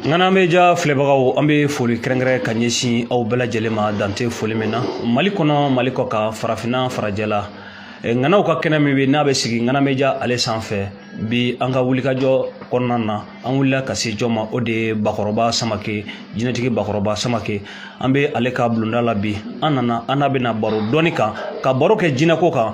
ŋanameja filɛbagaw an bɛ foli kɛrɛnkɛrɛn ka ɲɛsin aw bɛɛ lajɛlen ma dante foli min na mali kɔnɔ mali kɔkan farafinna farajɛla ŋanaw ka kɛnɛ min bɛ n'a bɛ sigi ŋanameja ale sanfɛ bi an ka wulikajɔ kɔnɔna na an wulila ka se jɔ ma o de ye bakɔrɔba samake jinɛtigi bakɔrɔba samake an bɛ ale ka bulonda la bi an nana an n'a bɛna baro dɔɔni kan ka baro kɛ jinɛko kan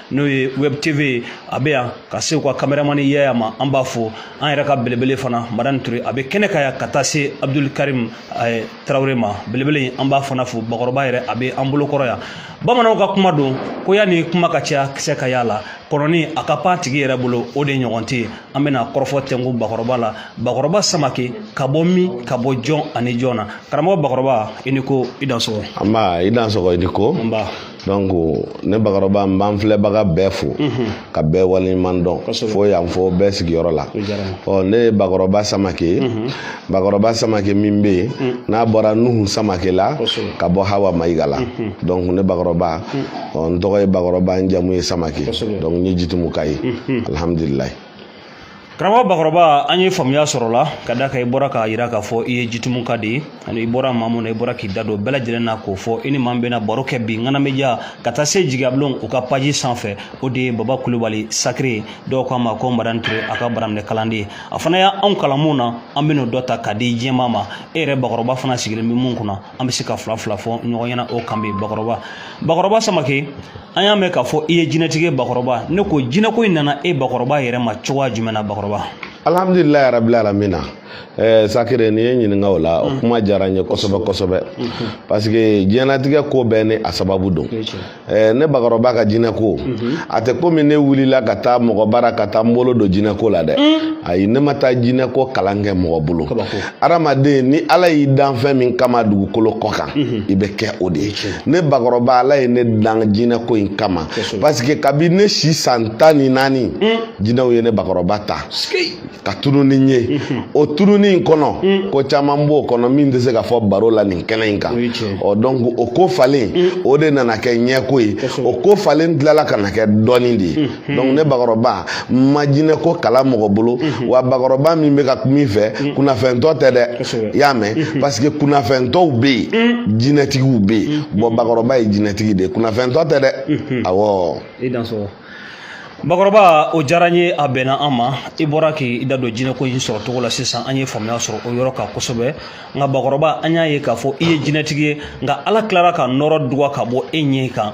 n'o ye web tv ye a bɛ yan ka se u ka kameramani yaya ma an b'a fo an yɛrɛ ka belebele fana madani ture a bɛ kɛnɛ ka yan ka taa se abdul karim eh, tarawele ma belebele an b'a fana fo bakɔrɔba yɛrɛ a bɛ an bolo kɔrɔ yan bamananw ka kuma don ko yanni kuma ka caya kisɛ ka yaala kɔnɔni a ka pan tigi yɛrɛ bolo o de ɲɔgɔn tɛ an bɛna kɔrɔfɔ tɛnku bakɔrɔba la bakɔrɔba samake ka bɔ min ka bɔ jɔn ani jɔn na karamɔgɔ bakɔrɔba i ni ko i dansɔgɔ anba i dansɔgɔ i ni ko anba donc ne bakɔrɔba n b'an filɛbaga bɛɛ fo ka bɛɛ waleɲuman dɔn fo yan fo bɛɛ sigiyɔrɔ la ɔ ne ye bakɔrɔba samake bakɔrɔba samake min bɛ yen n'a bɔra nuhu samake la ka bɔ hawa mayiga la donc ne bakɔrɔba ɔ n tɔgɔ ye bakɔrɔba n jamu ye samake donc n ye jitumuka ye alhamdulilayi karamɔgɔ bakɔrɔba an ye faamuya sɔrɔ la ka da kan i bɔra k'a yira k'a fɔ i ye jitumuka de ye ani i bɔra maa mun na i bɔra k'i da don bɛɛ lajɛlen na k'o fɔ i ni maa min bɛna baro kɛ bi ŋanameja ka taa se jigiyabulon u ka paji sanfɛ o de ye baba kulubali sakiri ye dɔw k'a ma ko madan ture a ka baraminɛ kalanden ye a fana y' anw kalan mun na an bɛn'o dɔ ta ka di jama ma e yɛrɛ bakɔrɔba fana sigilen bɛ mun kunna an bɛ se ka fila fila fɔ ɲɔgɔn ɲɛna o kan bi bakɔrɔba bakɔrɔba samake an y'a mɛn k'a fɔ i ye jinɛtigi bakɔrɔba ne ko jinɛko in nana e bakɔrɔba yɛrɛ ma cogoya jumɛn na bakɔrɔba alhamdulilayi yarabil alamina ɛɛ eh, sakire n'i ye n ɲininka o la o mm. kuma diyara n ye kosɛbɛ kosɛbɛ mm-hmm. parce que diɲɛlatigɛ ko bɛɛ ni a sababu don ɛɛ eh, ne bakɔrɔba ka jinɛko mm-hmm. a tɛ komi ne wulila ka taa mɔgɔ bara ka taa n bolo don jinɛko la dɛ mm. ayi ne ma taa jinɛko kalan kɛ mɔgɔ bolo adamaden ni ala y'i dan fɛn min kama dugukolo kɔ kan mhm. i bɛ kɛ o de ye ne bakɔrɔba ala ye ne dan jinɛko in kama parce que kabi ne si san tan ni naani mm. jinɛw ye ne bakɔrɔba ta ka tunun ni n ye mhm. o tununni in kɔnɔ mm. ko caman b'o kɔnɔ min tɛ se ka fɔ baro la nin kɛnɛ in kan ɔ donc o ko falen mm. o de nana kɛ ɲɛko ye o ko falen tilala ka na kɛ dɔnni de ye Hmm. donc ne bakɔrɔba ma jinɛko kalan mɔgɔ bolo hmm. wa bakɔrɔba min bɛ ka kuma i fɛ hmm. kunnafɛntɔ tɛ dɛ i y'a mɛn parce que kunnafɛntɔw bɛ yen jinɛtigiw bɛ yen bon bakɔrɔba ye jinɛtigi de ye kunnafɛntɔ tɛ dɛ awɔ. i dansɔgɔ bakɔrɔba o diyara n ye a bɛnna an ma i bɔra k'i da don jinɛko in sɔrɔ cogo la sisan an ye faamuya sɔrɔ o yɔrɔ kan kosɛbɛ nka bakɔrɔba an y'a ye k'a fɔ i ye jinɛtigi ye nka ala tilara ka nɔɔrɔ dogo ka bɔ e ɲɛ kan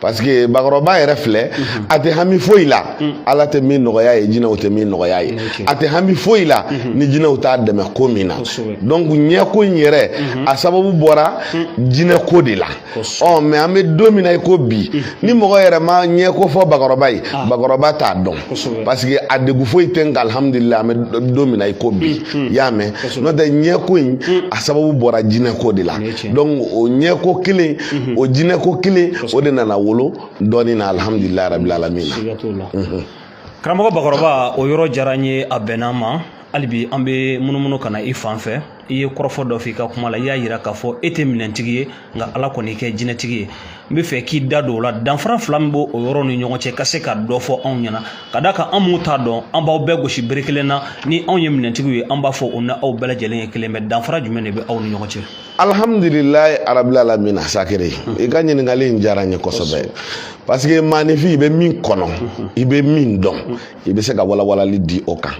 parce que bakɔrɔba yɛrɛ filɛ mhm. a tɛ hami foyi la mm. ala tɛ min nɔgɔya ye jinɛw tɛ min nɔgɔya ye a tɛ hami foyi la mhm. ni jinɛw t'a dɛmɛ ko min na donc ɲɛko in yɛrɛ mhm. a sababu bɔra mm. jinɛko de la ɔ mais an bɛ don min na i ko bi mm. ni mɔgɔ yɛrɛ ma ɲɛko fɔ bakɔrɔba ye ah. bakɔrɔba t'a dɔn parce que a degun foyi tɛ nka alihamudulila an bɛ don min na i ko bi i y'a mɛn n'o tɛ ɲɛko in a sababu bɔra jinɛko de la donc o ɲɛko kelen mhm. o jinɛko kelen o de nana wolo dɔɔni na alhamdulilayi rabil alamin na mhm. karamɔgɔ bakɔrɔba o yɔrɔ diyara n ye a bɛnna n ma hali bi an bɛ munumunu ka na i fan fɛ i ye kɔrɔfɔ dɔ f'i ka kuma la i y'a yira k'a fɔ e tɛ minɛntigi ye nka ala kɔni y'i kɛ jinɛtigi ye n bɛ fɛ k'i da don o la danfara fila min bɛ o yɔrɔ ni ɲɔgɔn cɛ ka se ka dɔ fɔ anw ɲɛna ka d'a kan an minnu t'a dɔn an b'aw bɛɛ gosi bere kelen na ni anw ye minɛntigiw ye an b'a fɔ u ni aw bɛɛ lajɛlen ye kelen mais danfara jumɛn de bɛ aw ni ɲɔgɔn cɛ alhamdulilayi rabil alamina sakere i ka ɲininkali in diyara n ye kosɛbɛ parce que maaninfin i bɛ min kɔnɔ i bɛ min dɔn i bɛ se ka walawalali di o kan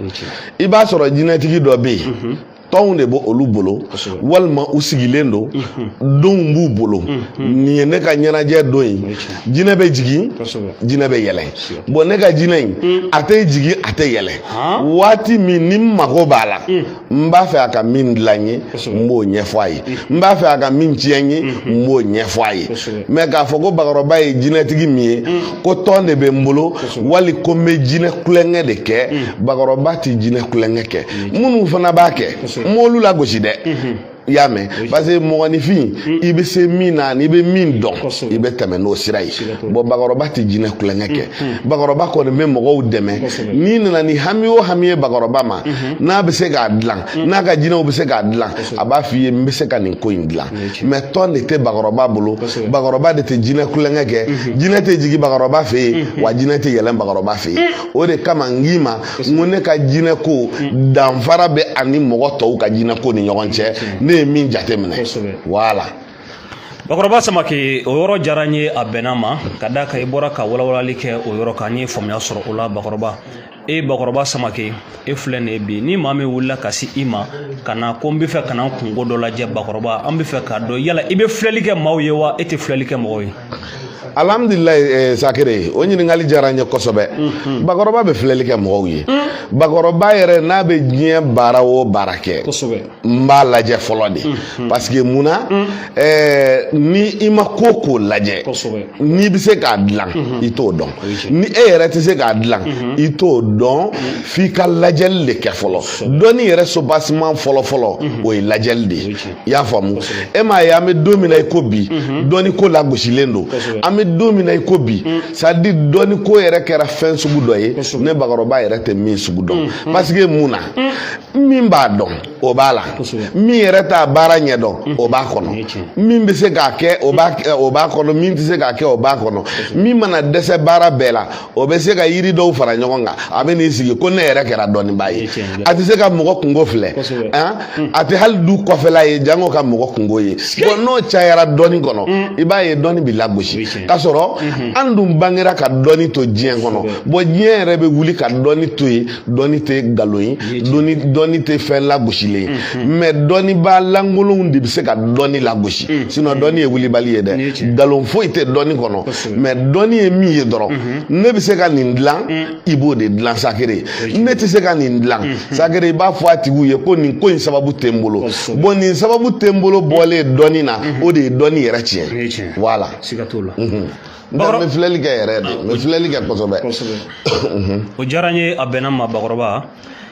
i b'a sɔrɔ jinɛtigi dɔ bɛ yen tɔnw de bɛ olu bolo walima u sigilen don mhm. donw b'u bolo mhm. nin ye ne ka ɲɛnajɛ don ye jinɛ bɛ jigin jinɛ bɛ yɛlɛn bon ne ka jinɛ in mhm. a tɛ jigin a tɛ yɛlɛn waati min ni n mago b'a la n b'a fɛ a ka min dilan n ye n b'o ɲɛfɔ a ye n b'a fɛ a ka min tiɲɛ n ye n b'o ɲɛfɔ a ye mais k'a fɔ ko bakɔrɔba ye jinɛtigi min ye ko tɔn de bɛ n bolo wali ko n bɛ jinɛ kulonkɛ de kɛ bakɔrɔba tɛ jinɛ kulonkɛ kɛ minnu fana b'a kɛ n m'olu lagosi dɛ i y'a mɛn parce que mɔgɔninfin hmm. i bɛ se min na n'i bɛ min dɔn i bɛ tɛmɛ n'o sira ye bon bakɔrɔba tɛ jinɛ kulonkɛ kɛ hmm, hmm. bakɔrɔba kɔni bɛ mɔgɔw dɛmɛ n'i nana ni hami o hami ye bakɔrɔba ma n'a bɛ se k'a dilan n'a ka jinɛw bɛ se k'a dilan a b'a f'i ye n bɛ se ka nin ko in dilan mais tɔn de tɛ bakɔrɔba bolo bakɔrɔba de tɛ jinɛ kulonkɛ kɛ jinɛ tɛ jigin bakɔrɔba fɛ yen wa jinɛ tɛ yɛlɛn bakɔrɔba fɛ yen o de kama n k'i ma n ko ne ka jinɛko hmm. danfara bɛ a ni mɔgɔ tɔw ka jinɛko ni ɲɔgɔn cɛ hmm. ne ye min jate minɛ voilà bakɔrɔba samake o yɔrɔ diyara n ye a bɛnna n ma ka d'a kan i bɔra ka walawalali kɛ o yɔrɔ kan n ye faamuya sɔrɔ o la bakɔrɔba e bakɔrɔba samake e filɛ nin ye bi ni maa min wulila ka se i ma ka na ko n bɛ fɛ ka na n kunko dɔ lajɛ bakɔrɔba an bɛ fɛ k'a dɔn yala i bɛ filɛli kɛ maaw ye wa e tɛ filɛli kɛ mɔgɔw ye alhamdulilayi eh, sakere o ɲininkali diyara n ye kosɛbɛ mhm. bakɔrɔba bɛ filɛli kɛ mɔgɔw ye mhm. bakɔrɔba yɛrɛ n'a bɛ diɲɛ baara o baara kɛ n b'a lajɛ fɔlɔ de mhm. parce que mun na eh, ni i ma ko o ko lajɛ n'i bɛ se k'a dilan i t'o dɔn ni e yɛrɛ tɛ se k'a dilan i t'o dɔn f'i ka lajɛli de kɛ fɔlɔ dɔnni yɛrɛ soubassement fɔlɔfɔlɔ o ye lajɛli de ye i y'a faamu e m'a ye an bɛ don min na i ko bi mhm. dɔnni ko lagosilen don an bɛ don min na i ko bi mm. c'est à dire dɔnni ko yɛrɛ kɛra fɛn sugu dɔ ye ne bakɔrɔba yɛrɛ tɛ min sugu dɔn mm, mm. parce que mun na min b'a dɔn o b'a la min yɛrɛ t'a baara ɲɛ dɔn o b'a kɔnɔ min bɛ se k'a kɛ o b'a kɔnɔ min tɛ se k'a kɛ o b'a kɔnɔ min mana dɛsɛ baara bɛɛ la o bɛ se ka yiri dɔw fara ɲɔgɔn kan a bɛ n'i sigi ko ne yɛrɛ kɛra dɔnnibaa ye a tɛ se ka mɔgɔ kungo filɛ a tɛ hali du kɔfɛla ye jango ka mɔgɔ kungo ye bɔn n'o cayara dɔnni kɔnɔ i b'a ye dɔnni bɛ lagosi k'a sɔrɔ an dun bangera ka dɔnni to diɲɛ kɔnɔ bɔn diɲɛ yɛrɛ bɛ wuli ka dɔnni to yen dɔnni tɛ nkalon ye dɔnni tɛ fɛn lagosilen ye mɛ dɔnnibaa lankolonw de bɛ se ka dɔnni lagosi sinɔn dɔnni ye wulibali ye dɛ nkalon foyi tɛ dɔnni kɔnɔ mɛ dɔnni ye min ye dɔrɔn ne bɛ se ka nin dilan i b'o de dilan sakere ne tɛ se ka nin dilan sakere i b'a fɔ a tigiw ye ko nin ko in sababu tɛ n bolo bɔn nin sababu tɛ n bolo bɔlen dɔnni na o de ye dɔnni yɛrɛ tiɲɛ wala n tɛ n bɛ filɛli kɛ yɛrɛ de n bɛ filɛli kɛ kosɛbɛ o diyara n ye a bɛnna ma bakɔrɔba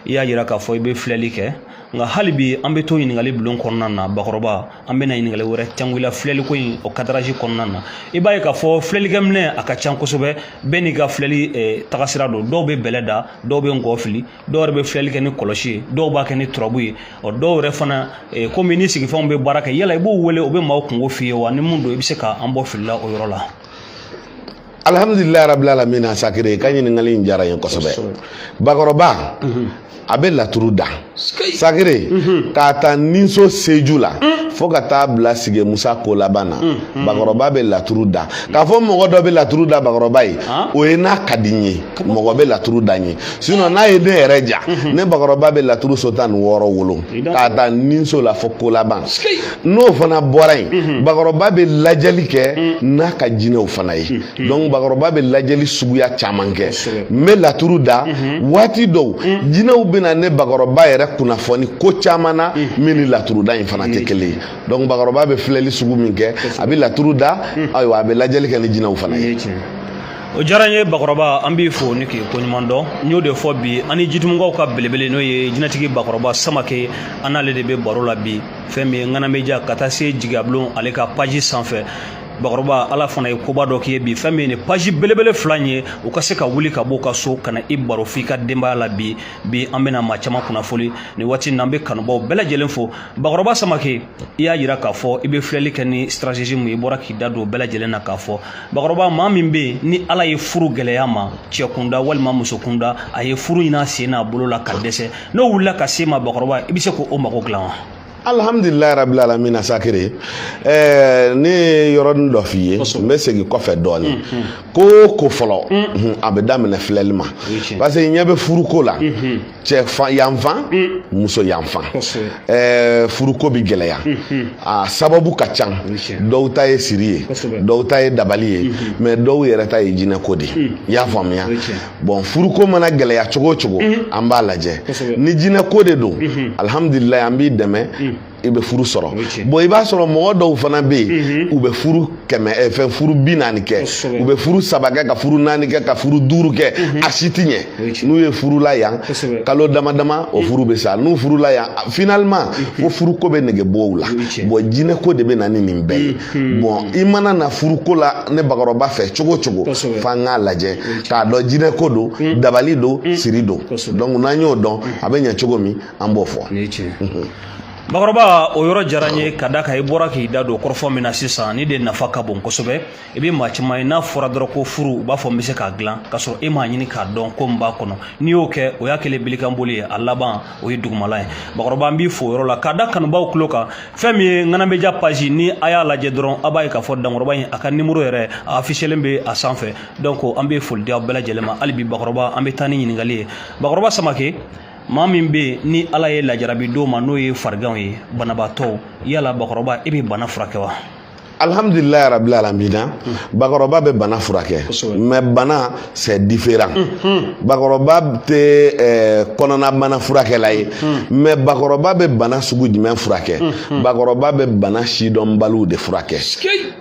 i y'a yira k'a fɔ i bɛ filɛli kɛ nka hali bi an bɛ to ɲininkali bulon kɔnɔna na bakɔrɔba an bɛna ɲininkali wɛrɛ cangila filɛli ko in o kadaraji kɔnɔna na i b'a ye k'a fɔ filɛlikɛminɛ a ka ca kosɛbɛ bɛɛ n'i ka filɛli tagasira don dɔw bɛ bɛlɛ da dɔw bɛ ngɔ fili dɔw yɛrɛ bɛ filɛli kɛ ni kɔlɔsi ye dɔw b'a kɛ ni turabu ye ɔ dɔw yɛrɛ fana eh, komi ni sigifɛnw bɛ baara kɛ yala i b'o wele o bɛ maaw kungo f'i ye wa ni mun don i bɛ se ka an bɔ filila o yɔrɔ la alhamdulilayi rabil alamin a sakere i ka ɲininkali in diyara n ye kosɛbɛ bakɔrɔba a bɛ laturu da sakere k'a ta ninso seju la fo ka taa bila sige musa ko laban na bakɔrɔba bɛ laturu da k'a fɔ mɔgɔ dɔ bɛ laturu da bakɔrɔba ye o ye n'a ka di n ye mɔgɔ bɛ laturu da n ye sinɔn n'a ye ne yɛrɛ diya mhm. ne bakɔrɔba bɛ laturu so tan ni wɔɔrɔ wolo k'a ta ninso la fo ko laban n'o fana bɔra yen mhm. bakɔrɔba bɛ lajɛli kɛ mhm. n'a ka jinɛw fana ye dɔnku bakɔrɔba bɛ lajɛli suguya caman kɛ n bɛ laturu da waati dɔw jinɛw bɛna ne bakɔrɔba yɛrɛ kunnafoni ko caman na min ni laturu da in fana tɛ kelen ye dɔnku bakɔrɔba bɛ filɛli sugu min kɛ a bɛ laturu da ayiwa a bɛ lajɛli kɛ ni jinɛw fana ye. o diyara n ye bakɔrɔba an b'i fo ni k'i koɲuman dɔn n y'o de fɔ bi an ni jitumɔgɔw ka belebele n'o ye jinɛtigi bakɔrɔba samake an n'ale de bɛ baro la bi fɛn min ye ŋanameja ka taa se jigiyabulon ale ka paji sanfɛ bakɔrɔba ala fana ye koba dɔ k'i ye bi fɛn min ye nin paji belebele fila in ye u ka se ka wuli ka bɔ u ka so ka na i baro f'i ka denbaya la bi bi an bɛna maa caman kunnafoni nin waati in na an bɛ kanubaw bɛɛ lajɛlen fo bakɔrɔba samake i y'a yira k'a fɔ i bɛ filɛli kɛ ni stratégie mun ye i bɔra k'i da don bɛɛ lajɛlen na k'a fɔ bakɔrɔba maa min bɛ yen ni ala ye furu gɛlɛya ma cɛ kunda walima muso kunda a ye furu ɲini a sen n'a bolo la ka dɛsɛ n'o wulila ka se ma bakɔrɔba i bɛ se k'o mago dilan wa alhamdulilayi rabil alamina sakiri ɛɛ ne ye yɔrɔnin dɔ f'i ye n bɛ segin kɔfɛ dɔɔnin mm, mm. ko ko fɔlɔ mm. a bɛ daminɛ filɛli ma parce que i ɲɛ bɛ furuko la cɛ yanfan mm. muso yanfan ɛɛ furuko bɛ gɛlɛya mm-hmm. a sababu ka ca dɔw ta ye siri ye dɔw ta ye dabali ye mm-hmm. mais dɔw yɛrɛ ta ye jinɛko de mm. i y'a faamuya bon furuko mana gɛlɛya cogo o cogo mm-hmm. an b'a lajɛ ni jinɛko de don alihamudulilayi an b'i dɛmɛ i bɛ furu sɔrɔ bon i b'a sɔrɔ mɔgɔ dɔw fana bɛ yen u bɛ furu kɛmɛ eh, fɛn furu bi naani kɛ u bɛ furu saba kɛ ka furu naani kɛ ka furu duuru kɛ a si ti ɲɛ n'u ye furu la yan kalo dama dama o furu bɛ sa n'u furula yan finalement fo furuko bɛ nege bɔ u la bon jinɛko de bɛ na ni nin bɛɛ ye bon i mana na furuko la ne bakɔrɔba fɛ cogo o cogo f'an k'a lajɛ k'a dɔn jinɛko don dabali don siri don donc n'an y'o dɔn a bɛ ɲɛ cogo min an b'o fɔ. bakɔrɔba o yɔrɔ diyara n ye ka da kan i bɔra k'i da don kɔrɔfɔ min na sisan nin de nafa ka bon kosɛbɛ i bɛ maa caman ye n'a fɔra dɔrɔn ko furu u b'a fɔ n bɛ se k'a dilan k'a sɔrɔ e m'a ɲini k'a dɔn ko min b'a kɔnɔ n'i y'o kɛ o y'a kɛlen bilikanboli ye a laban o ye dugumala ye bakɔrɔba n b'i fo o yɔrɔ la k'a da kanubaw tulo kan fɛn min ye ŋana média page ni a y'a lajɛ dɔrɔn a b'a ye k'a fɔ dankɔrɔba in a ka nimoro yɛrɛ a afiselen bɛ a sanfɛ donc an bɛ foli di aw bɛɛ lajɛlen ma hali bi bakɔrɔba an bɛ taa ni ɲininkali ye bakɔrɔba samake maa min bɛ yen ni ala ye lajarabi d'o ma n'o ye fariganw ye banabaatɔw yala bakɔrɔba e bɛ bana furakɛ wa alhamdulilayi rabil alamina bakɔrɔba bɛ bana furakɛ mais bana c'est différent bakɔrɔba tɛ eh, kɔnɔna bana furakɛla ye mais bakɔrɔba bɛ bana sugu jumɛn furakɛ bakɔrɔba bɛ bana sidɔnbaliw de furakɛ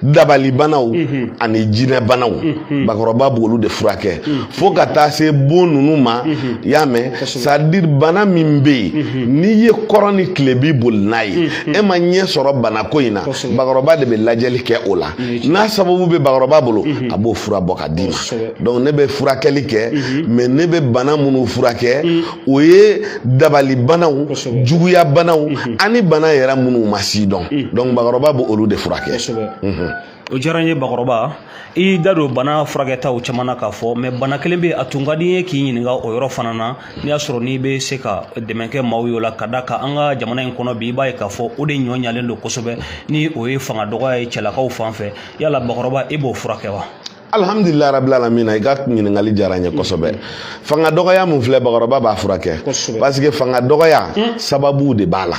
dabalibanaw mhm. ani jinɛbanaw mhm. bakɔrɔba b'olu de furakɛ mhm. fo ka taa se bon ninnu ma i y'a mɛn c'est-à-dire bana min bɛ yen n'i ye kɔrɔn ni tilebin boli n'a ye e ma ɲɛ sɔrɔ banako in na bakɔrɔba de bɛ lajɛli kɛ o la n'a sababu bɛ bakɔrɔba bolo a b'o fura bɔ ka d'i ma donc ne bɛ furakɛli kɛ mais ne bɛ bana minnu furakɛ o ye dabalibanaw juguyabanaw mhm. ani bana yɛrɛ minnu ma sidɔn mhm. donc bakɔrɔba b'olu de furakɛ mhm. o diyara n ye bakɔrɔba i y'i da don bana furakɛtaw caman na k'a fɔ mais bana kelen bɛ a tun ka di n ye k'i ɲininka o yɔrɔ fana na n'i y'a sɔrɔ n'i bɛ se ka dɛmɛ kɛ maaw ye o la ka da kan an ka jamana in kɔnɔ bi i b'a ye k'a fɔ o de ɲɔ ɲalen don kosɛbɛ ni o ye fanga dɔgɔya ye cɛlakaw fan fɛ yala bakɔrɔba e b'o furakɛ wa alhamdulilayi rabil alamina i ka ɲininkali diyara n ye kosɛbɛ mm-hmm. fanga dɔgɔya min filɛ bakɔrɔba b'a furakɛ parce que fanga dɔgɔya mm. sababuw de b'a la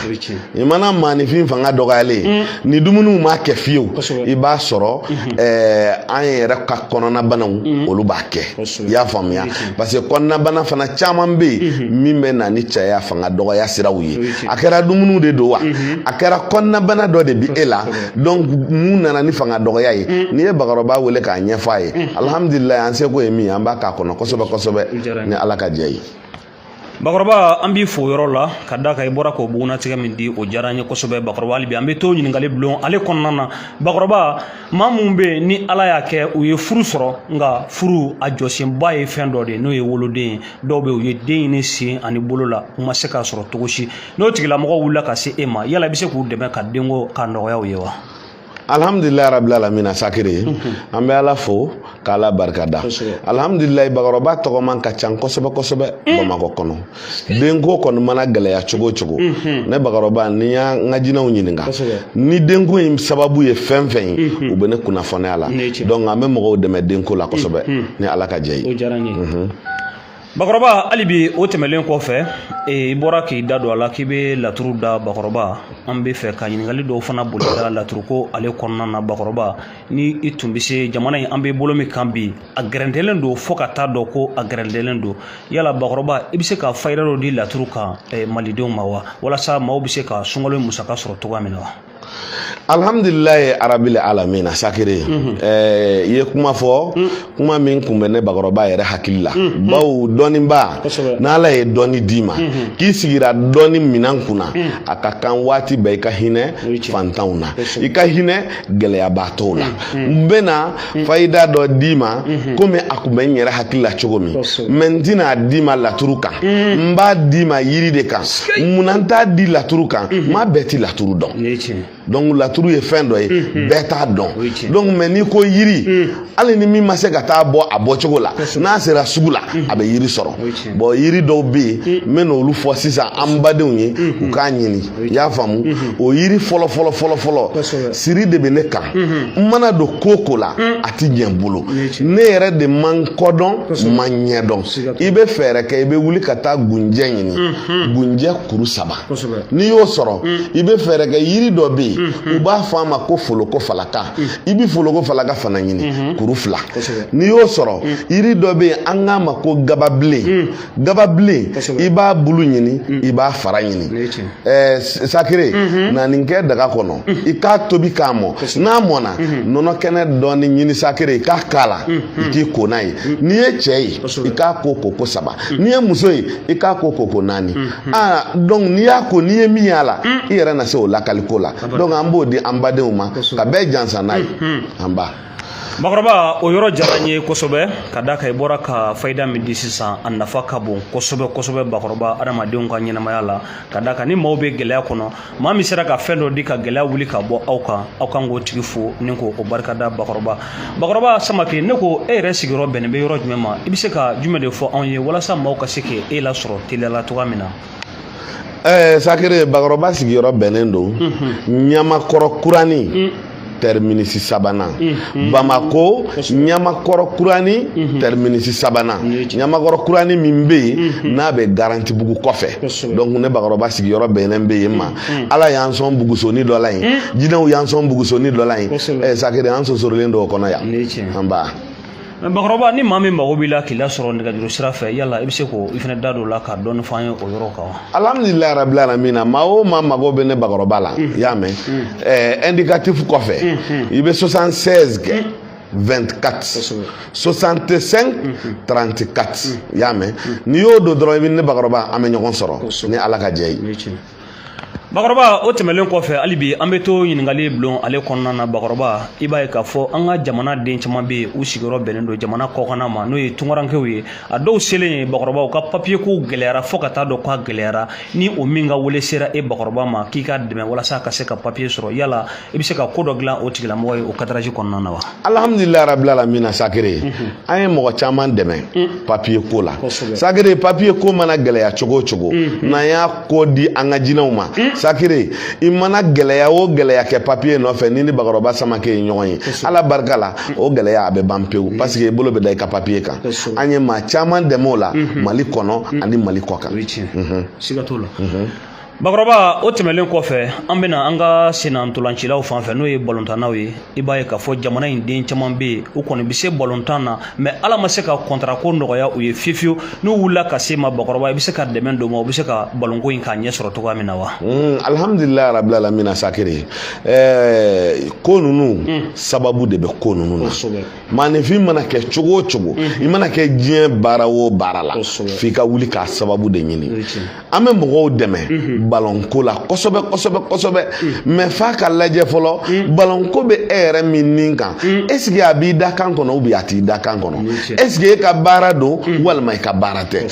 i mana maanifin fanga dɔgɔyalen ye mm. ni dumuniw m'a kɛ fiyewu i b'a sɔrɔ mm-hmm. eh, an yɛrɛ ka kɔnɔnabanaw mm. olu b'a kɛ i y'a faamuya parce que kɔnɔnabana fana caman bɛ yen mm-hmm. min bɛ na ni cɛya fanga dɔgɔya siraw ye a kɛra dumuniw de don wa a kɛra kɔnɔnabana dɔ de bi e la donc mun nana ni fanga dɔgɔya ye mm. n'i ye bakɔrɔba wele k'a ɲɛfɔ a ye mm. alhamdulilayi an seko ye min an b'a k'a kɔnɔ kosɛbɛ kosɛbɛ ni ala ka jɛ ye bakɔrɔba an b'i fo yɔrɔ la ka da kan i bɔra k'o bugunnatigɛ min di o diyara an ye kosɛbɛ bakɔrɔba hali bi an bɛ to ɲininkali bulon ale kɔnɔna na bakɔrɔba maa minnu bɛ yen ni ala y'a kɛ u ye furu sɔrɔ nka furu a jɔsenba ye fɛn dɔ de ye n'o ye woloden ye dɔw bɛ yen u ye den ɲini sen ani bolo la u ma se k'a sɔrɔ cogo si n'o tigilamɔgɔ wulila ka se e ma yala i bɛ se k'u dɛmɛ ka denko k'a nɔgɔya u ye wa alhamdulilayi rabil alamina sakiri mhm. an bɛ ala fo ka ala barikada alhamdulilayi bakɔrɔba tɔgɔman ka ca kosɛbɛ kosɛbɛ mm. bamakɔ kɔnɔ denko kɔni mana gɛlɛya cogo o cogo mhm. ne bakɔrɔba ni n y'an ka jinɛw ɲininka ni denko in sababu ye fɛn fɛn ye mhm. u bɛ ne kunnafoni a la donc an bɛ mɔgɔw dɛmɛ denko la kosɛbɛ ni ala ka jɛ ye bakɔrɔba hali bi o tɛmɛlen kɔfɛ i bɔra k'i da don a la k'i bɛ laturu da bakɔrɔba an bɛ fɛ ka ɲininkali dɔw fana boli da laturuko ale kɔnɔna na bakɔrɔba ni i tun bɛ se jamana in an bɛ bolo min kan bi a gɛrɛntɛlen don fo ka taa dɔn ko a gɛrɛntɛlen don yala bakɔrɔba i bɛ se ka fayida dɔ di laturu kan malidenw ma wa walasa maaw bɛ se ka sunkalo in musaka sɔrɔ cogoya min na wa alhamdulilayi arabili alamina sakiri mhm. eh, i ye kuma fɔ mm. kuma min kun bɛ ne bakɔrɔba yɛrɛ hakili la mm, mm. bawo dɔnnibaa n'ala ye dɔnni d'i ma mm-hmm. k'i sigira dɔnni minan kunna a ka kan waati bɛɛ i ka hinɛ fantanw na i ka hinɛ gɛlɛyabaatɔw la n bɛna mm. fayida dɔ d'i ma mm-hmm. komi a kun bɛ n yɛrɛ hakili la cogo min mais n tɛna a d'i ma laturu kan mm. n b'a d'i ma yiri de kan munna n t'a di laturu kan mm-hmm. maa bɛɛ ti laturu dɔn donc laturu ye fɛn dɔ ye mm-hmm. bɛɛ t'a dɔn donc mais n'i ko yiri mm. hali ni min ma se ka taa bɔ a bɔcogo la n'a sera sugu la a bɛ yiri sɔrɔ bon yiri dɔw bɛ yen n bɛna olu fɔ sisan an badenw ye u k'a ɲini i y'a faamu mhm. o yiri fɔlɔ fɔlɔ fɔlɔ fɔlɔ siri de bɛ ne kan mhm. n mana don ko o ko la mhm. a ti ɲɛ n bolo ne yɛrɛ de ma n kɔ dɔn n ma n ɲɛ dɔn i bɛ fɛɛrɛ kɛ i bɛ wuli ka taa gunjɛ ɲini gunjɛ kuru saba n'i y'o sɔrɔ i bɛ fɛɛrɛ kɛ yiri dɔ bɛ yen u b'a fɔ a ma ko foloko falaka i bɛ foloko falaka fana ɲini kuru fila n'i y'o sɔrɔ yiri dɔ bɛ yen an k'a ma ko gababilen gababilen i b'a bulu ɲini mm. i b'a fara ɲini eh, sakire mm-hmm. na nin kɛ daga kɔnɔ mm. i k'a tobi k'a mɔ n'a mɔna mm-hmm. nɔnɔ kɛnɛ dɔɔni ɲini sakire i k'a k'a la mm-hmm. i k'i ko n'a ye n'i ye cɛ ye i k'a ko koko saba n'i ye muso ye i k'a ko koko naani ah, donc n'i y'a ko n'i ye min y'a la i yɛrɛ na se o lakaliko la donc an b'o di an badenw ma ka bɛɛ jansa n'a ye an ba bakɔrɔba o yɔrɔ jara n ye kosɛbɛ ka da kan i bɔra ka fayida min di sisan a nafa ka bon kosɛbɛ kosɛbɛ bakɔrɔba adamadenw ka ɲɛnamaya la ka da kan ni maaw bɛ gɛlɛya kɔnɔ maa min sera ka fɛn dɔ di ka gɛlɛya wuli ka bɔ aw kan aw kan k'o tigi fo ni k'o o barikada bakɔrɔba bakɔrɔba samake ne ko e yɛrɛ sigiyɔrɔ bɛnnen bɛ yɔrɔ jumɛn ma i bɛ se ka jumɛn de fɔ anw ye walasa maaw ka se k'e lasɔrɔ teliya la cogoya min na ɛɛ sakere bakɔrɔba sigiyɔrɔ bɛnnen don mhm. ɲamakɔrɔ kurani mm. tɛriminisi sabanan mhm. bamako ɲamakɔrɔ kurani mhm. tɛriminisi sabanan ɲamakɔrɔ kurani min bɛ yen n'a bɛ garantibugu kɔfɛ donc ne bakɔrɔba sigiyɔrɔ bɛnnen bɛ yen ma ala y'an sɔn bugusoni dɔ la yen jinɛw y'an sɔn bugusoni dɔ la yen ɛɛ sakere an sosorolen don o kɔnɔ yan anba. bakɔrɔba ni maa min mago b'i la k'i lasɔrɔ nɛgɛjuru sira fɛ yala i bɛ se k'o i fana da don o la ka dɔɔni fɔ an ye o yɔrɔ kan wa. alhamdulilayi rabil alamina maa o maa mago bɛ ne bakɔrɔba la i y'a mɛn ɛɛ indicatif kɔfɛ i bɛ 76 kɛ. 24 65 34 i y'a mɛn n'i y'o don dɔrɔn i bɛ ne bakɔrɔba an bɛ ɲɔgɔn sɔrɔ ni ala ka jɛ ye bakɔrɔba o tɛmɛnlen kɔfɛ hali bi an bɛ to ɲininkali bulon ale kɔnɔna na bakɔrɔba i b'a ye k'a fɔ an ka jamana den caman bɛ yen u sigiyɔrɔ bɛnnen don jamana kɔkanna ma n'o ye tunkarankew ye a dɔw selen ye bakɔrɔba u ka papiye ko gɛlɛyara fo ka taa dɔn k'a gɛlɛyara ni o min ka wele sera e bakɔrɔba ma k'i k'a dɛmɛ walasa ka se ka papiye sɔrɔ yala i bɛ se ka ko dɔ dilan o tigilamɔgɔ ye o kadaraji kɔnɔna na wa alhamdulilayi rabil alamina sakere mhm. an ye mɔgɔ caman dɛmɛ mm. papiye ko la sakere papiye ko mana gɛlɛya cogo o cogo mhm. n'an y'a ko di an ka jinɛw ma mm. sakere i mana gɛlɛya o gɛlɛya kɛ papiye nɔfɛ n'i ni bakɔrɔba samake ye ɲɔgɔn ye ala barika la mm. o gɛlɛya a bɛ ban pewu parce que i bolo bɛ da i ka papiye kan an ye maa caman dɛmɛ o la mhm. mali kɔnɔ ani mali kɔkan bakɔrɔba o tɛmɛnlen kɔfɛ an bɛna an ka sennantolancilaw fan fɛ n'o ye balontannaw ye i b'a ye k'a fɔ jamana in den caman bɛ yen u kɔni bɛ se balontan na mais ala ma se ka kɔntarako nɔgɔya u ye fiyewu fiyewu n'u wulila ka s'i ma bakɔrɔba i bɛ se ka dɛmɛ don u ma u bɛ se ka balonko in k'a ɲɛ sɔrɔ cogoya min na wa. Hmm, alhamdulilayi rabil alamina sakire ɛɛ ko ninnu hmm. sababu de bɛ ko ninnu na maaninfin mana kɛ cogo o cogo i mana kɛ diɲɛ baara o baara la f'i ka wuli k'a sababu de ɲini an bɛ mɔgɔw dɛmɛ balɔnko la kosɛbɛ kosɛbɛ kosɛbɛ mais f'a ka lajɛ fɔlɔ balɔnko bɛ e yɛrɛ min nin kan est-ce que a b'i dakan kɔnɔ ou bien a t'i dakan kɔnɔ est-ce que e ka baara don walima i ka baara tɛ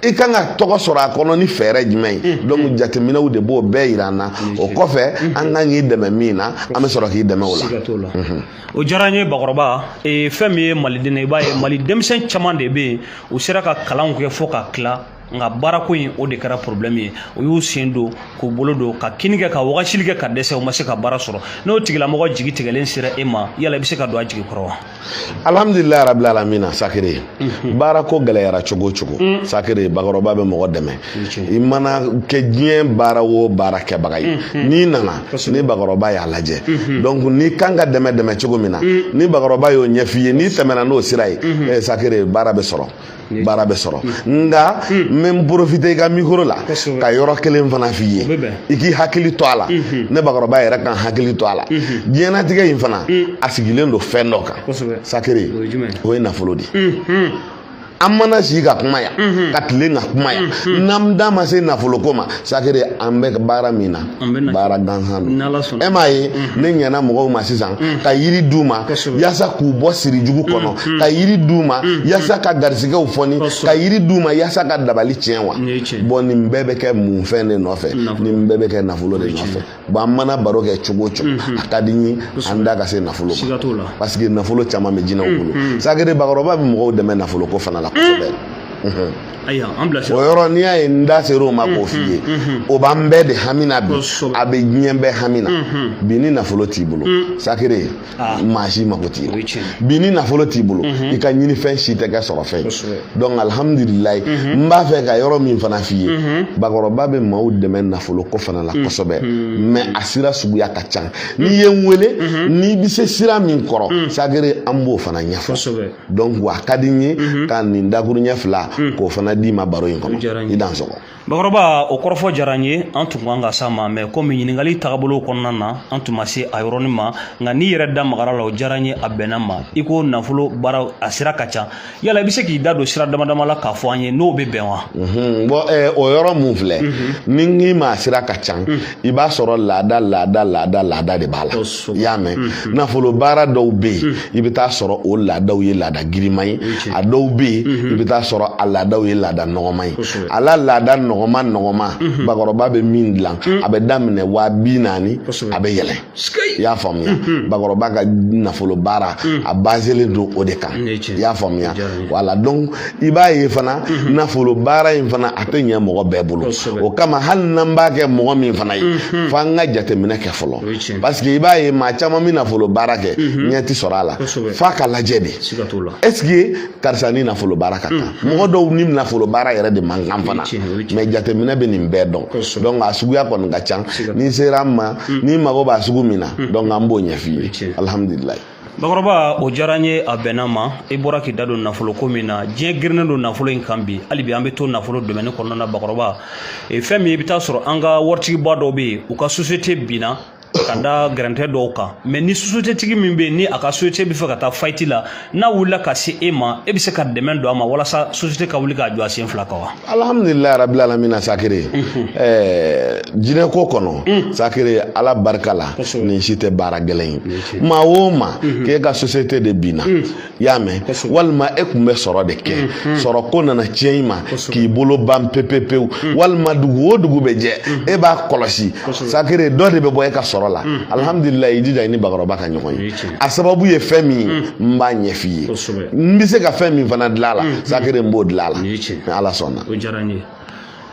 i kan ka tɔgɔ sɔrɔ a kɔnɔ ni fɛɛrɛ jumɛn ye donc jateminɛw de b'o bɛɛ yira an na o kɔfɛ an kan k'i dɛmɛ min na an bɛ sɔrɔ k'i dɛmɛ o la o diyara n ye bakɔrɔba ee, fɛn min ye maliden ye i b'a ye mali denmisɛn caman de bɛ yen u sera ka kalanw kɛ fo ka tila nka baarako in o de kɛra problème ye u y'u sen don k'u bolo don ka kini kɛ ka wagasili kɛ ka dɛsɛ u ma se ka baara sɔrɔ n'o tigilamɔgɔ jigi tigɛlen sera e ma yala i bɛ se ka don a jigi kɔrɔ wa alhamdulilayi rabil alamina sakere Mhm. baara ko gɛlɛyara cogo o cogo mm. sakere bakɔrɔba bɛ mɔgɔ dɛmɛ i mana kɛ diɲɛ baara o baara kɛbaga ye mhm. n'i nana ni bakɔrɔba y'a lajɛ mhm. donc n'i kan ka dɛmɛ dɛmɛ cogo min na mm. ni bakɔrɔba y'o ɲɛf'i ye n'i tɛmɛna n'o sira ye eh, sakere baara bɛ sɔrɔ baara bɛ sɔrɔ nka mm. n bɛ n profiter i ka micro la ka yɔrɔ kelen fana f'i ye i k'i hakili to a la ne bakɔrɔba yɛrɛ ka n hakili to a la diɲɛnatigɛ in fana a sigilen don fɛn dɔ kan sakere o ye nafolo de an mana si ka kuma yan ka tile ka kuma yan n'an da ma se nafoloko ma sakere an bɛ baara min na baara gansan don e m'a ye ne ɲɛna mɔgɔw ma sisan ka yiri d'u ma yaasa k'u bɔ siri jugu kɔnɔ ka yiri d'u ma yaasa ka garisigɛw fɔni ka yiri d'u ma yaasa ka dabali tiɲɛ wa bon nin bɛɛ bɛ kɛ mun fɛn de nɔfɛ nin bɛɛ bɛ kɛ nafolo de nɔfɛ bon an mana baro kɛ cogo o cogo mhm. a ka di n ye an da ka se nafolo ma parce que nafolo caman bɛ jinɛw mhm. bolo sakere bakɔrɔba bɛ mɔgɔw dɛmɛ nafolo ko fana la kosɛbɛ mhm. o yɔrɔ n'i y'a ye n da sera o ma k'o f'i ye o b'an bɛɛ de hami na bi a bɛ diɲɛ bɛɛ hami na bi ni nafolo t'i bolo sakere maa si mako t'i la bi ni nafolo t'i bolo i ka ɲinifɛn si tɛ kɛ sɔrɔfɛn ye donc alhamdulilayi n b'a fɛ ka yɔrɔ min fana f'i ye bakɔrɔba bɛ maaw dɛmɛ nafolo ko fana la kosɛbɛ mais a sira suguya ka ca n'i ye n wele n'i bɛ se sira min kɔrɔ sakere an b'o fana ɲɛfɔ donc wa ka di n ye ka nin dakuruɲɛ fila k'o fana d'i ma baro in kɔnɔ i dansɔgɔ bakɔrɔba o kɔrɔfɔ diyara n ye an tun kan ka s'a ma mais komi ɲiningaliw tagabolow kɔnɔna na an tun ma se a yɔrɔnin ma nka n'i yɛrɛ da magara la o diyara n ye a bɛnna ma i ko nafolo baara a sira ka ca yala i bɛ se k'i da don sira dama dama la k'a fɔ an ye n'o bɛ bɛn wa bon o yɔrɔ min filɛ ni n k'i ma a sira ka ca i b'a sɔrɔ laada laada laada laada de b'a la i y'a mɛn mhm. nafolo baara dɔw bɛ yen mhm. i bɛ taa sɔrɔ o laadaw ye laada girinma ye a dɔw bɛ yen mhm. i bɛ taa sɔrɔ a laadaw ye laada nɔgɔma ye a la laada nɔgɔma nɔgɔma bakɔrɔba bɛ min dilan a bɛ daminɛ waa bi naani a bɛ yɛlɛn i y'a faamuya mhm. bakɔrɔba ka nafolo baara mhm. a bazelen don o de kan i y'a faamuya wala donc i b'a ye fana mhm. nafolo baara in fana a tɛ ɲɛ mɔgɔ bɛɛ bolo o kama hali n'an b'a kɛ mɔgɔ min fana ye fo an ka jateminɛ kɛ fɔlɔ parce que i b'a ye maa caman bɛ nafolo baara kɛ ɲɛ tɛ sɔrɔ a la f'a ka lajɛ de est ce que karisa ni nafolo baara ka kan mm. mɔgɔ dɔw ni nafolo baara yɛrɛ de man kan fana mais jateminɛ bɛ nin bɛɛ dɔn donc a suguya kɔni ka can n'i sera an ma mm. n'i mago b'a sugu min na mm. donc an b'o ɲɛf'i ye alhamdulilayi bakɔrɔba o diyara n ye a bɛnna ma i bɔra k'i da don nafolo ko min na diɲɛ girinnen don nafolo in kan bi hali bi an bɛ to nafolo domaine kɔnɔna na bakɔrɔba fɛn min i bɛ taa sɔrɔ an ka waritigiba dɔw bɛ yen u ka société binna ka da gɛrɛntɛ dɔw kan mais ni société tigi min bɛ yen ni a ka société bɛ fɛ ka taa faillite la n'a wulila ka se e ma e bɛ se ka dɛmɛ don a ma walasa société ka wuli k'a jɔ a sen fila kan wa alhamdulilayi rabil alamina sakere ɛɛ jinɛko kɔnɔ sakere ala barika la nin si tɛ baara gɛlɛn ye maa o maa k'e ka société de binna i y'a mɛn walima e tun bɛ sɔrɔ de kɛ mm-hmm. sɔrɔ ko nana tiɲɛ i ma k'i bolo ban pepepewu mm. walima dugu o dugu bɛ jɛ mm-hmm. e b'a kɔlɔsi sakere dɔ de bɛ bɔ e ka sɔrɔ la mm. alhamdulilayi i jija i ni bakɔrɔba ka ɲɔgɔn ye a sababu ye fɛn min mm. n b'a ɲɛf'i ye n bɛ se ka fɛn min fana dilan a la mm-hmm. sakere n b'o dilan a la ni ala sɔnna o diyara n ye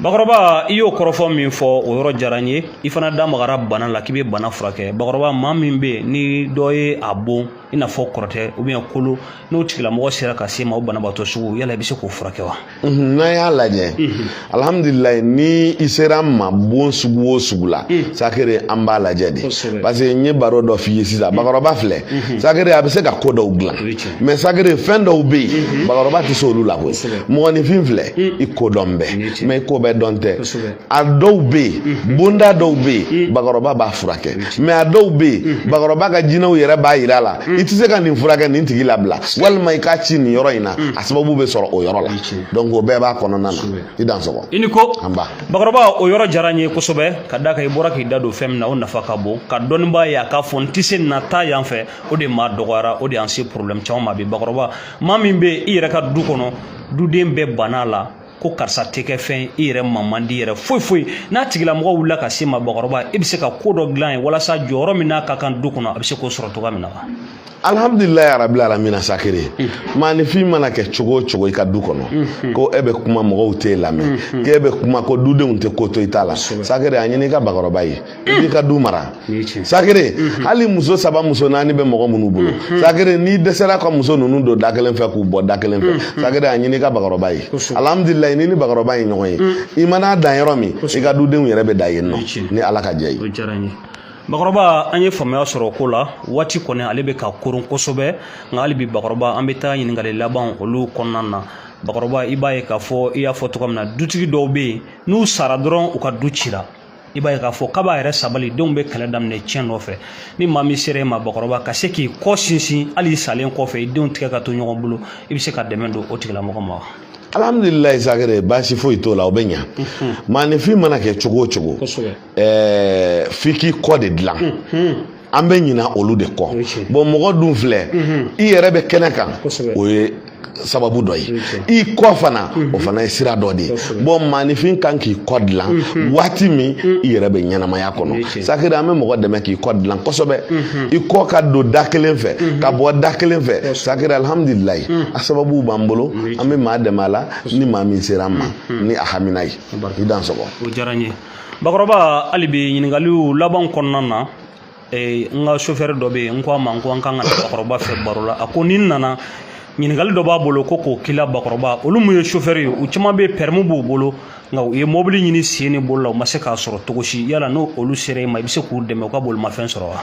bakɔrɔba i y'o kɔrɔfɔ min fɔ o yɔrɔ diyara n ye i fana da magara bana la k'i bɛ bana furakɛ bakɔrɔba maa min bɛ yen ni dɔ ye a bon i n'a fɔ kɔrɔtɛ ou bien kolo n'o tigilamɔgɔ sera ka s'e ma o banabaatɔ sugu yala i bɛ se k'o furakɛ wa n'a y'a lajɛ alhamdulilayi ni i sera n ma bon sugu o sugu la sakere an b'a lajɛ de parce que n ye baro dɔ f'i ye sisan bakɔrɔba filɛ sakere a bɛ se ka ko dɔw dilan mais sakere fɛn dɔw bɛ yen bakɔrɔba tɛ se olu la koyi mɔgɔninfin filɛ i ko dɔn bɛ mais i ko bɛɛ dɔn tɛ a dɔw bɛ yen mhm. bonda dɔw bɛ yen mhm. bakɔrɔba b'a furakɛ mhm. mais a dɔw bɛ yen bakɔrɔba ka jinɛw yɛrɛ b'a yira a la i tɛ se ka nin furakɛ nin tigi labila walima i k'a ci nin yɔrɔ in na a sababu bɛ sɔrɔ o yɔrɔ la donc o bɛɛ b'a kɔnɔna na i dansɔgɔ i ni ko anba bakɔrɔba o yɔrɔ diyara n ye kosɛbɛ ka d'a kan i bɔra k'i da don fɛn min na o nafa ka bon ka dɔnnibaa ye a k'a fɔ n tɛ se na taa yan fɛ o de maa dɔgɔyara o de y'an se problème caman ma bi bakɔrɔba maa min bɛ i yɛrɛ ka du kɔnɔ duden bɛɛ banna a la ko karisa tɛ kɛ fɛn i yɛrɛ ma man di yɛrɛ foyi foyi n'a tigilamɔgɔ wulila ka s'e ma bakɔrɔba e bɛ se ka ko dɔ dilan a ye walasa jɔyɔrɔ min n'a ka kan du kɔnɔ a bɛ se k'o sɔrɔ cogoya min na wa alhamdulilayi rabil alamina sakere maanifin mana kɛ cogo o cogo i ka du kɔnɔ ko e bɛ kuma mɔgɔw t'e lamɛn k'e bɛ kuma ko dudenw tɛ ko to i ta la sakere a ɲini i ka bakɔrɔba ye i b'i ka du mara sakere mhm. hali muso saba muso naani bɛ mɔgɔ minnu bolo mhm. sakere n'i dɛsɛra ka muso ninnu don da kelen fɛ k'u bɔ da kelen fɛ mhm. sakere a ɲini i ka bakɔrɔba ye alhamdulilayi n'i ni bakɔrɔba ye ɲɔgɔn ye i mana dan yɔrɔ min i ka dudenw yɛrɛ bɛ dan yen nɔ ni ala ka jɛ ye bakɔrɔba an ye faamuya sɔrɔ o ko la waati kɔni ale bɛ ka koron kosɛbɛ nka hali bi bakɔrɔba an bɛ taa ɲininkali laban olu kɔnɔna na bakɔrɔba i b'a ye k'a fɔ i y'a fɔ cogo min na dutigi dɔw bɛ yen n'u sara dɔrɔn u ka du cira i b'a ye k'a fɔ kab'a yɛrɛ sabali denw bɛ kɛlɛ daminɛ ciyɛn nɔfɛ ni maa min sera e ma bakɔrɔba ka se k'i kɔ sinsin hali i salen kɔfɛ i denw tigɛ ka to ɲɔgɔn bolo i bɛ se ka dɛmɛ don o tigilamɔgɔ ma wa alhamdulilayi sagere baasi foyi t'o la o bɛ ɲa maanifin mana kɛ cogo o cogo f'i k'i kɔ de dilan an bɛ ɲina olu de kɔ bɔn mɔgɔ dun filɛ mhm. i yɛrɛ bɛ kɛnɛ kan o ye sababu dɔ ye i kɔ fana mhm. o fana ye sira dɔ de ye bɔn maanifin kan k'i kɔ dilan mhm. waati min i yɛrɛ bɛ ɲɛnamaya kɔnɔ sakiri an bɛ mɔgɔ dɛmɛ k'i kɔ dilan kosɛbɛ i kɔ ka don da kelen fɛ ka bɔ da kelen fɛ sakiri alihamudulilayi a sababu b'an bolo an bɛ maa dɛmɛ a la ni maa min sera an ma ni a hamina ye i dan sɔgɔ bakɔrɔba hali bi ɲininkaliw laban kɔnɔna na eh, n ka sofɛri dɔ bɛ yen n ko a ma n ko an kan ka na bakɔrɔba fɛ baro la a ko ni n nana ɲininkali dɔ b'a bolo ko k'o k'i la bakɔrɔba olu mun ye sofɛri ye u caman bɛ pɛrɛmu b'u bolo nka u ye mɔbili ɲini sen ni bolo la u ma se k'a sɔrɔ cogo si yala ni olu sera i ma i bɛ se k'u dɛmɛ u ka bolimafɛn sɔrɔ wa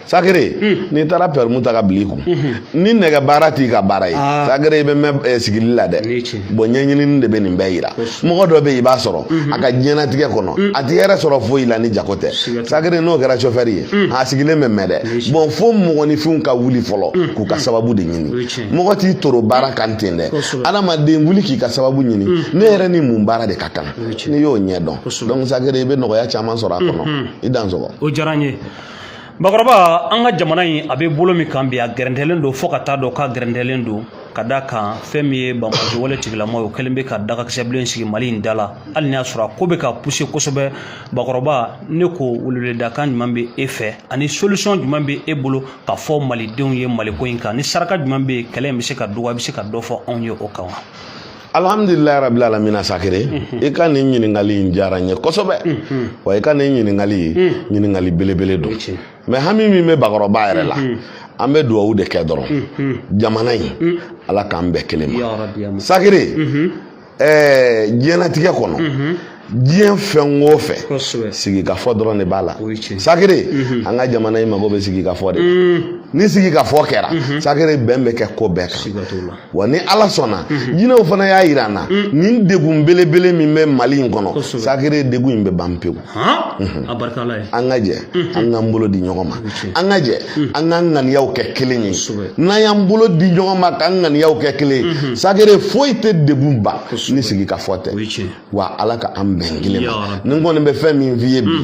sagere n'i taara pɛrimu ta ka bil'i kun ni nɛgɛ baara t'i ka baara ye sagere i bɛ mɛn eh, sigili la dɛ bɔn ɲɛɲinini de bɛ nin bɛɛ yira mɔgɔ dɔ bɛ yen i b'a sɔrɔ a ka diɲɛnatigɛ kɔnɔ a ti hɛrɛ sɔrɔ foyi la ni jago tɛ sagere n'o kɛra sofɛri ye a sigilen bɛ mɛn dɛ bɔn fo mɔgɔninfinw ka wuli fɔlɔ k'u ka sababu de ɲini mɔgɔ t'i toro baara kan ten dɛ adamaden wuli k'i ka sababu ɲini ne yɛrɛ ni mun baara de ka kan n'i y'o ɲɛ dɔn donc sagere i bɛ nɔgɔya caman sɔrɔ a kɔnɔ i dan sɔgɔ o diyara n ye bakɔrɔba an ka jamana in a bɛ bolo min kan bi a gɛrɛntɛlen don fo ka taa dɔn k'a gɛrɛntɛlen don ka da kan fɛn min ye banbaanci wale tigilama ye o kɛlen bɛ ka dagakisɛbilen sigi mali in da la hali n'i y'a sɔrɔ a ko bɛ ka puse kosɛbɛ bakɔrɔba ne ko weleweledakan jumɛn bɛ e fɛ ani solisɔn jumɛn bɛ e bolo k'a fɔ malidenw ye maliko in kan ni saraka jumɛn bɛ yen kɛlɛ in bɛ se ka dɔgɔya i bɛ se ka dɔ fɔ anw ye o kan wa alhamdulilayi rabil alamina sakere mhm. i ka nin ɲininkali in diyara n ye kosɛbɛ mhm. wa i ka nin ɲininkali mhm. ɲininkali belebele don mɛ hami min bɛ bakɔrɔba yɛrɛ la an bɛ duwawu de kɛ dɔrɔn jamana in ala k'an bɛn kelen ma sakere ɛɛ diɲɛnatigɛ kɔnɔ diɲɛ fɛn o fɛn sigikafɔ dɔrɔn de b'a la sakere mhm. an ka jamana in mago bɛ sigikafɔ de mm. ni sigikafɔ kɛra mhm. sakere bɛn bɛ kɛ ko bɛɛ kan wa ni ala sɔnna mhm. jinɛw fana y'a yira an na mm. nin degun belebele min bɛ mali in kɔnɔ sakere degun in bɛ ban pewu an ka jɛ an k'an bolo di ɲɔgɔn ma an ka jɛ mm. an k'an ŋaniyaw kɛ kelen ye n'an y'an bolo di ɲɔgɔn ma k'an ŋaniyaw kɛ kelen ye sakere foyi tɛ degun ban ni sigikafɔ tɛ wa ala ka an bɛn kelen ma ne kɔni bɛ fɛn min f'i ye bi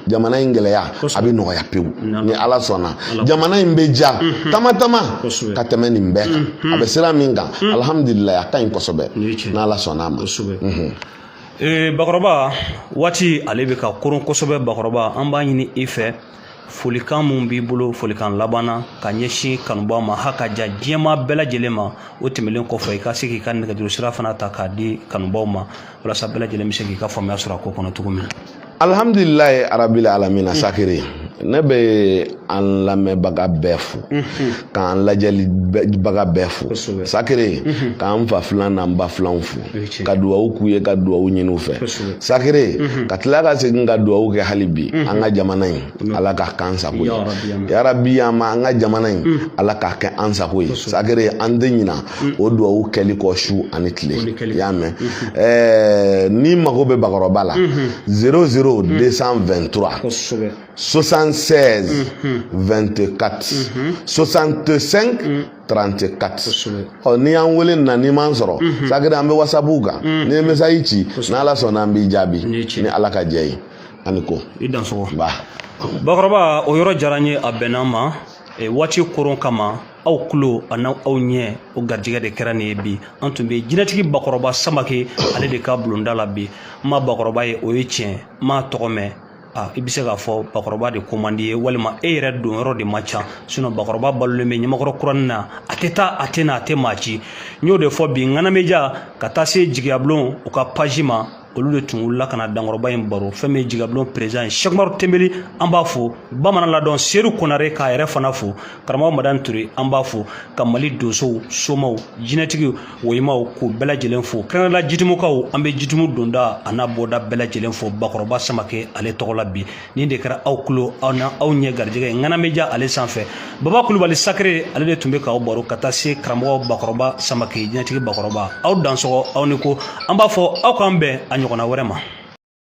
jamana in gɛlɛya a bɛ nɔgɔya pewu ni ala sɔnna jamana in bɛ ja tama tama ka tɛmɛ nin bɛɛ kan a bɛ sira min kan alihamudulilayi a ka ɲi kosɛbɛ n'ala sɔnna a ma bakɔrɔba waati ale bɛ ka koron kosɛbɛ bakɔrɔba an b'a ɲini i fɛ folikan min b'i bolo folikan laban na ka ɲɛsin kanubaaw ma ha ka ja diɲɛ maa bɛɛ lajɛlen ma o tɛmɛlen kɔfɛ i ka se k'i ka nɛgɛjuru sira fana ta k'a di kanubaaw ma walasa bɛɛ lajɛlen bɛ se k'i ka faamuya sɔrɔ a ko kɔnɔ cogo min na alhamdulilayi arabili alamina sakere ne bɛ an lamɛnbaga bɛɛ fo k'an lajɛlibaga bɛɛ fo sakere mhm. k'an fa filan n'an ba filanw fo ka duwawu k'u ye ka duwawu ɲini u fɛ sakere mhm. ka tila ka segin ka duwawu kɛ hali bi mhm. an ka jamana in ala k'a k'an sago ye yarabi an ma an ka jamana in ala k'a kɛ an sago ye sakere an tɛ ɲina o duwawu kɛli kɔ su ani tile i y'a mɛn eh, ni mago bɛ bakɔrɔba la zero zero deux cent vingt trois 76 24 65 34 ɔ n'i y'an wele na n'i m'an sɔrɔ mhm. sakere an bɛ wasabu kan mhm. n'i ye mesazi ci n'ala sɔnna an b'i jaabi ni ala ka jɛ ye ani ko i dansɔgɔ bakɔrɔba o yɔrɔ diyara n ye a bɛnna n ma e, waati koron kama aw kulo ani aw ɲɛ o garijɛgɛ de kɛra nin ye bi an tun bɛ jinɛtigi bakɔrɔba samakɛ ale de ka bulonda la bi n ma bakɔrɔba ye o ye tiɲɛ n m'a tɔgɔ mɛn Ah, i bɛ se k'a fɔ bakɔrɔba de ko man d'i ye walima e yɛrɛ don yɔrɔ de ma ca sinɔn bakɔrɔba balolen bɛ ɲamakɔrɔ kuranin na a tɛ taa a tɛ na a tɛ maa ci n y'o de fɔ bi ŋanameja ka taa se jigiyabulon u ka paji ma olu de tun wulila ka na dankɔrɔba in baro fɛn min ye jigiyabulon perezidan ye sɛki umaru tenbeli an b'a fo bamanan ladɔn seru konare k'a yɛrɛ fana fo karamɔgɔ madani ture an b'a fo ka mali donsow somaw jinɛtigiw woyimaw k'u bɛɛ lajɛlen fo kɛrɛnkɛrɛnla jitumukaw an bɛ jitumu donda an'a bɔda bɛɛ lajɛlen fo bakɔrɔba samakɛ ale tɔgɔ la bi nin de kɛra aw kulo ani aw ɲɛ garijɛgɛ ye ŋanameja ale sanfɛ baba kulubali sakere ale de tun bɛ k'aw baro ka taa se karamɔgɔ bakɔrɔba samakɛ jinɛtigi bakɔrɔba aw dansɔgɔ aw ni ko an b'a fɔ aw k'an bɛn a ɲɔgɔnna wɛrɛ ma